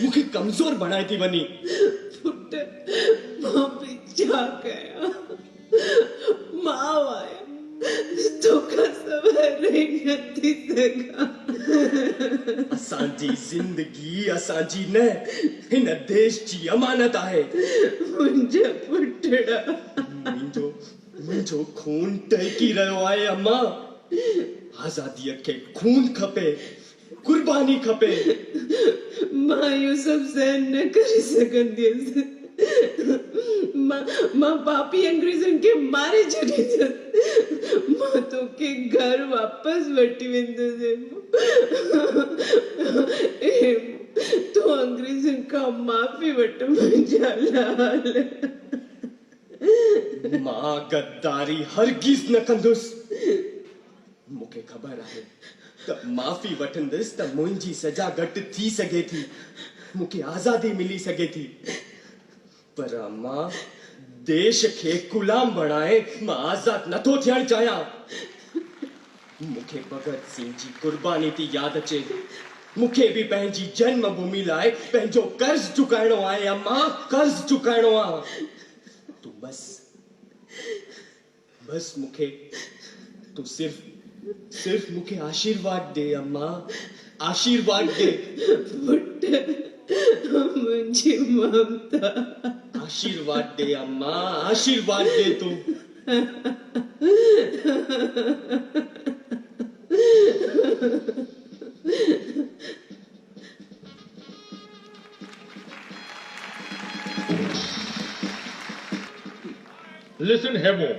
مون کي ڪمزور بڻائي ٿي وڃين. پٽ مان به ڇا ڪيان ماء آهيان توکان سواء رهي نٿي سگهان. اسان جي زندگي اسان جي نه هن ديش جي امانت آهي. منهنجا پٽڙا. منهنجو منهنجو خون ٽهڪي رهيو آهي امان. آزادي کي خون کپي قرباني کپي. مان اهو سڀ سهن نه ڪري سگهنديس. مان پاپي انگريزن کي ماري ڇڏيندس. مان توکي گهر واپس وٺي ويندس هيمو. هيمو تون انگريزن کان معافي وٺ منهنجا لال. مان غداري هرگز نه ڪندس. مون کي خبر آهي ته معافي وٺندس ته منهنجي سزا گهٽ ٿي سگهي ٿي، مون کي آزادي ملي سگهي ٿي. پر امان ديش کي غلام بڻائي مان آزاد نٿو ٿيڻ چاهيان. مون کي ڀڳت سنگهه جي قرباني ٿي ياد اچي. مون کي به پنهنجي جنم ڀومي لاء پنهنجو قرض چڪائڻو آهي امان، قرض چڪائڻو آهي. تون بس. بس مون کي تون صرف صرف مون کي آشيرواد ڏي اما آشيرواد ڏي. پٽ منهنجي ممتا. آشيرواد ڏي اما آشيرواد ڏي تون. Listen Hemo،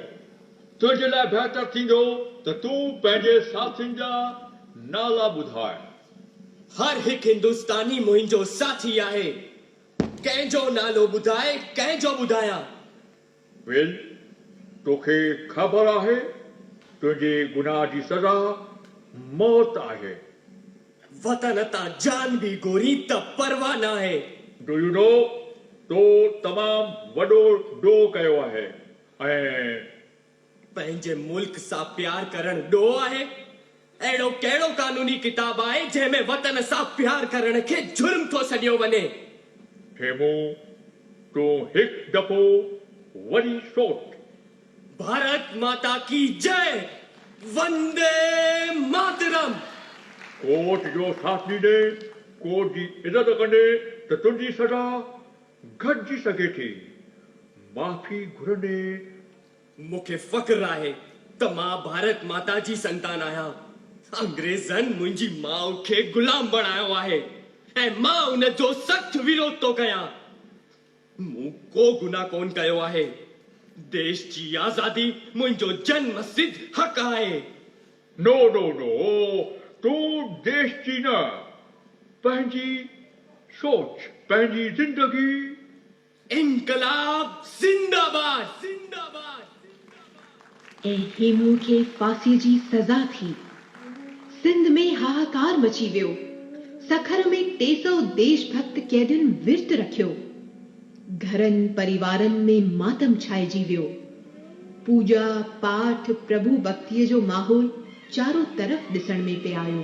تنهنجي لاء بهتر ٿيندو ته تون پنهنجي ساٿين جا نالا ٻڌاء. هر هڪ هندستاني منهنجو ساٿي آهي. ڪنهن جو نالو ٻڌاء، ڪنهن جو ٻڌايان؟ Will، توکي خبر آهي تنهنجي گناهه جي سزا موت آهي. وطن تان جان به گهرين ته پرواهه ناهي. ڊويڊو تو تمام وڏو ڊوهه ڪيو آهي ۽. پنهنجي ملڪ سان پيار ڪرڻ ڊوهه آهي؟ اهڙو ڪهڙو قانوني ڪتاب آهي جنهن ۾ وطن سان پيار ڪرڻ کي جرم ٿو سڏيو وڃي؟ هيمون تون هڪ دفعو وري سوچ. ڀارت ماتا ڪي جئ وندي ماترم. ڪورٽ جو ساٿ ڏيندي ڪورٽ جي عزت ڪندي ته تنهنجي سزا گهٽجي سگهي ٿي معافي گهرندي. مون کي فخر آهي ته مان ڀارت ماتا جي سنتان آهيان انگريزن منهنجي ماء کي غلام بڻايو آهي ۽ مان ان جو سخت ويروڌ ٿو ڪيان. مون ڪو گناهه ڪونه ڪيو آهي. ديش جي آزادي منهنجو جنم سڌ حق آهي. نو نو نو تون ديش جي نه پنهنجي سوچ پنهنجي زندگي. انقلاب زنده باد. ۽ هيمون کي ڦاسي جي سزا ٿي. سنڌ ۾ هاهاڪار مچي ويو. سکر ۾ ٽي سؤ ديش ڀڪت قيدين ورت رکيو. گهرن پريوارن ۾ ماتم ڇائجي ويو. پوڄا پاٺ پرڀو ڀڪتيء جو ماحول چارو طرف ڏسڻ ۾ پئي آيو.